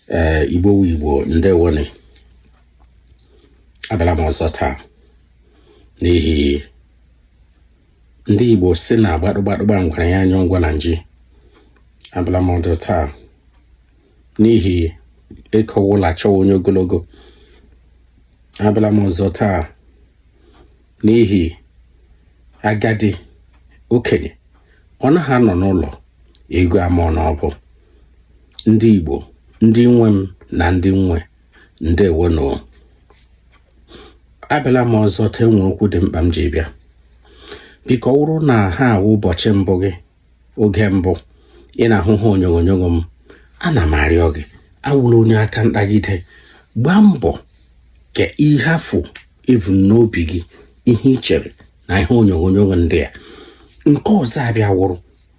ee eh, igbo wu igbo ndewo nụ abịala m ọzọ taa n'ihi ndị igbo si na gbadụgbadụ gba ngwere ya anya anwụ na nji abịala m ọzọ taa n'ihi e kowe elu a chọwa onye ogologo abịala m ọzọ taa n'ihi agadi okenye ọ naghị anọ n'ụlọ eghu amụọ n'ọbụ ndị Igbo ndị nwe m na ndị m nwe ndewo nụ abịala m ọzọ taa e nwere okwu dị mkpa m ji bịa biko ọ bụrụ na ihe a wụ ụbọchị mbụ gị oge mbụ ị na-ahụ ihe onyonyo m ana m arịọ gị awụla onye aka ntagide gbaa mbọ kaa ihe afụ i vu n'obi gị ihe ị chere na ihe onyonyo ndị a nke ọzọ abịa wụrụ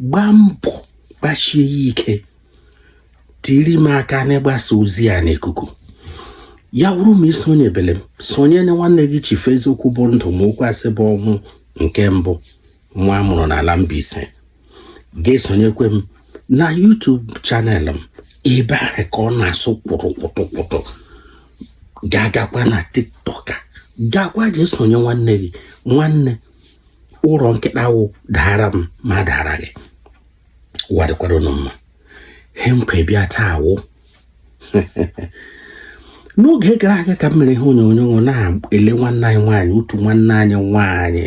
gbaa mbọ gbasie ya ike tiiri m aka n'ịgbasa ozi a n'ikuku ya wụrụ ma i sonyebele m sonye na nwanne gị Chief eziokwu bụ ndụ ma okwu asị bụ ọnwụ nke mbụ nwa a mụrụ n'ala Mbaise ga-esonyekwe m na YouTube channel m ebe ahụ ka ọ na-asụ kwụrụ kwụtụ kwụtụ ga-agakwa na tiktok gakwa jee sonye nwanne gị nwanne ụrọ nkịta wụ daara m m adaara gị ụwa dịkwara unu mma he m kwọ bịa taa wụ n'oge gara aga ka m mere ihe onyonyo na-ele nwanne anyị nwaanyị otu nwanne anyị nwaanyị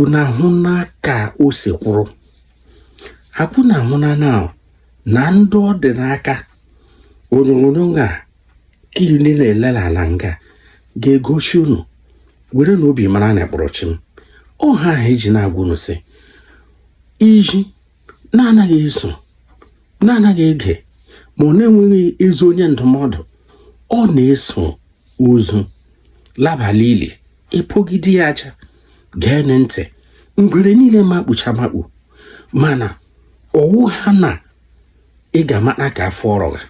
unu ahụna ka o si kwụrụ akwụ na ahụ na na na ndị ọ dị n'aka onyonyo a ka iri na-elele ala nga ga-egosi unu were na obi mara na kpọrọ chi m ọ ihe ahụ e ji na-agwa unu sị iji na-anaghị eso na-anaghị ege ma ọ na-enweghị ezi onye ndụmọdụ ọ na-eso ozu laba la ili e kpogide ya aja gee ntị ngwere niile makpucha makpu mana ọ wụha na ị ga-amata nke afọ rọga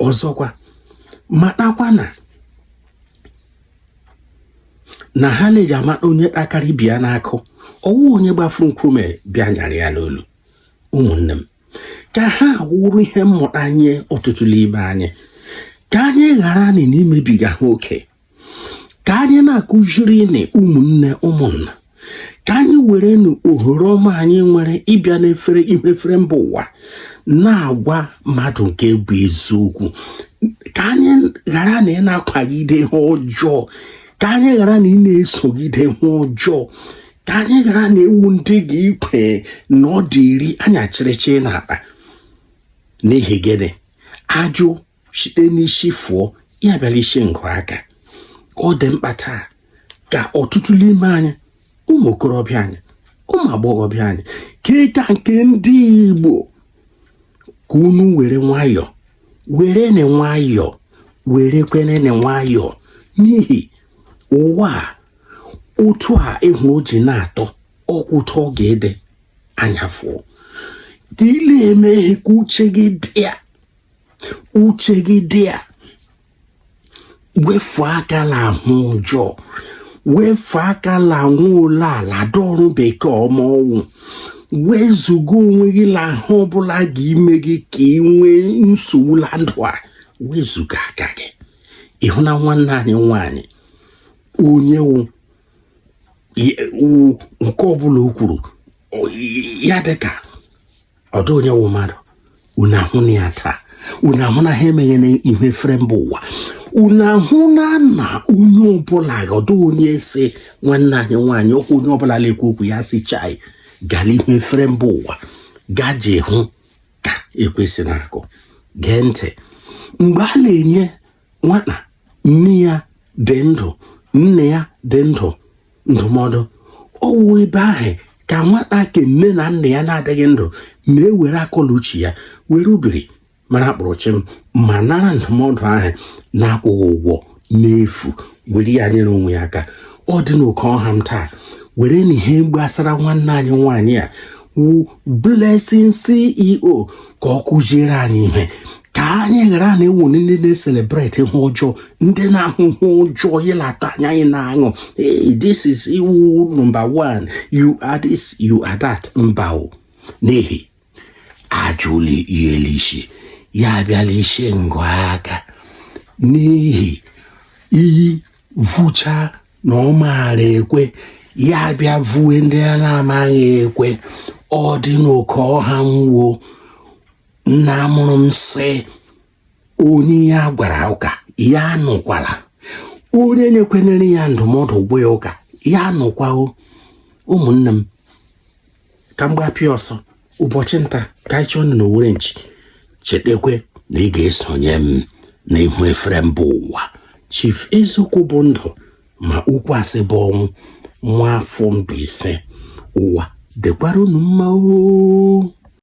ọzọkwa matakwa na na ihe a na-eji amata onye kpakara ibe ya n'akụ ọ wụ onye gbafuru nkume bịa nyara ya n'olu ụmụnne m ka ihe a wụrụ ihe mmụta nye ọtụtụ n'ime anyị ka anyị ghara anyị na-emebiga ihe oke ka anyị na-akụziri nụ ụmụnne ụmụnna ka anyị were nụ ohere ọma anyị nwere ịbịa n'efere ihu efere mba ụwa na-agwa mmadụ nke bụ eziokwu ka anyị ghara nụ ịna-akwagide ihe ọjọọ ka anyị ghara nụ ịna-esogide ihe ọjọọ ka anyị ghara nụ ịwụ ndị gị ikwe na ọ dị iri anya chịrịchịrị n'akpa n'ihi gịnị ajụ site n'isi fụọ ya bịara isi ngụ aka ọ dị mkpa taa ka ọtụtụ n'ime anyị ụmụ okorobịa anyị ụmụ agbọghọbịa anyị ka ịka nke ndị Igbo ka unu were nwayọọ were nụ nwayọọ werekwe nụ nwayọọ n'ihi ụwa a otu a ị hụ o ji na-atọ oke ụtọ ọ ga-ede anya fụọ ka ị la-eme ihe ka uche gị dị ya uche gị dị ya wefu aka la ihe ọjọọ wefu aka la anwụ ole ala dọrụ bekee ọma ọnwụ wezuga onwe gị la ihe ọbụla ga-ime gị ka ị nwee nsogbu la ndụ a wezuga aka gị ị hụna nwanne anyị nwanyị onye wụ nke ọbụla o kwuru ya dịka ọdụ onye wụ mmadụ unu ahụna ya taa unu ahụna ihe emeghe na ihu efere mba ụwa unu ahụna na onye ọbụla ọdụ onye si nwanne anyị nwaanyị okwu onye ọbụla na-ekwu okwu ya si chai gaa la ihu efere mba ụwa gaje hụ ka ekwe si na-akụ gee ntị mgbe a na-enye nwata nne ya dị ndụ nna ya dị ndụ ndụmọdụ ọ wụ ebe ahụ ka nwata ke nne na nna ya na-adịghị ndụ na-ewere akọ la uche ya were ubiri mara kpụrụchịm ma nara ndụmọdụ ahụ na-akwụghị ụgwọ n'efu were ya nyere onwe ya aka ọ dị n'oke ọha m taa were nụ ihe gbasara nwanne anyị nwaanyị a wụ Blessing CEO ka ọ kụziere anyị ihe ka anyị ghara nụ ịwụ ndị na-ecelebrate ihe ọjọọ ndị na-ahụ ihe ọjọọ ịlata anya anyị na-aṅụ this is ị wụ number one you are this you are that mba o n'ihi ajụla iyeli isi ya abịala isi ngụ aka n'ihi iyi vucha na ọ maara ekwe ya bịa vue ndị a na-amaghị ekwe ọ dị n'oke ọha nwuo nna mụrụ m sị onye ya gwara ụka ya nụkwala onye nyekwenyere ya ndụmọdụ gwa ya ụka ya nụkwa o ụmụnne m ka m gbapịa ọsọ ụbọchị nta ka anyị chụọ na owere nchi chetakwe na ị ga-esonye m na ihu efere mba ụwa chief eziokwu bụ ndụ ma okwu asị bụ ọnwụ nwa afọ mbaise ụwa dịkwara unu mma oo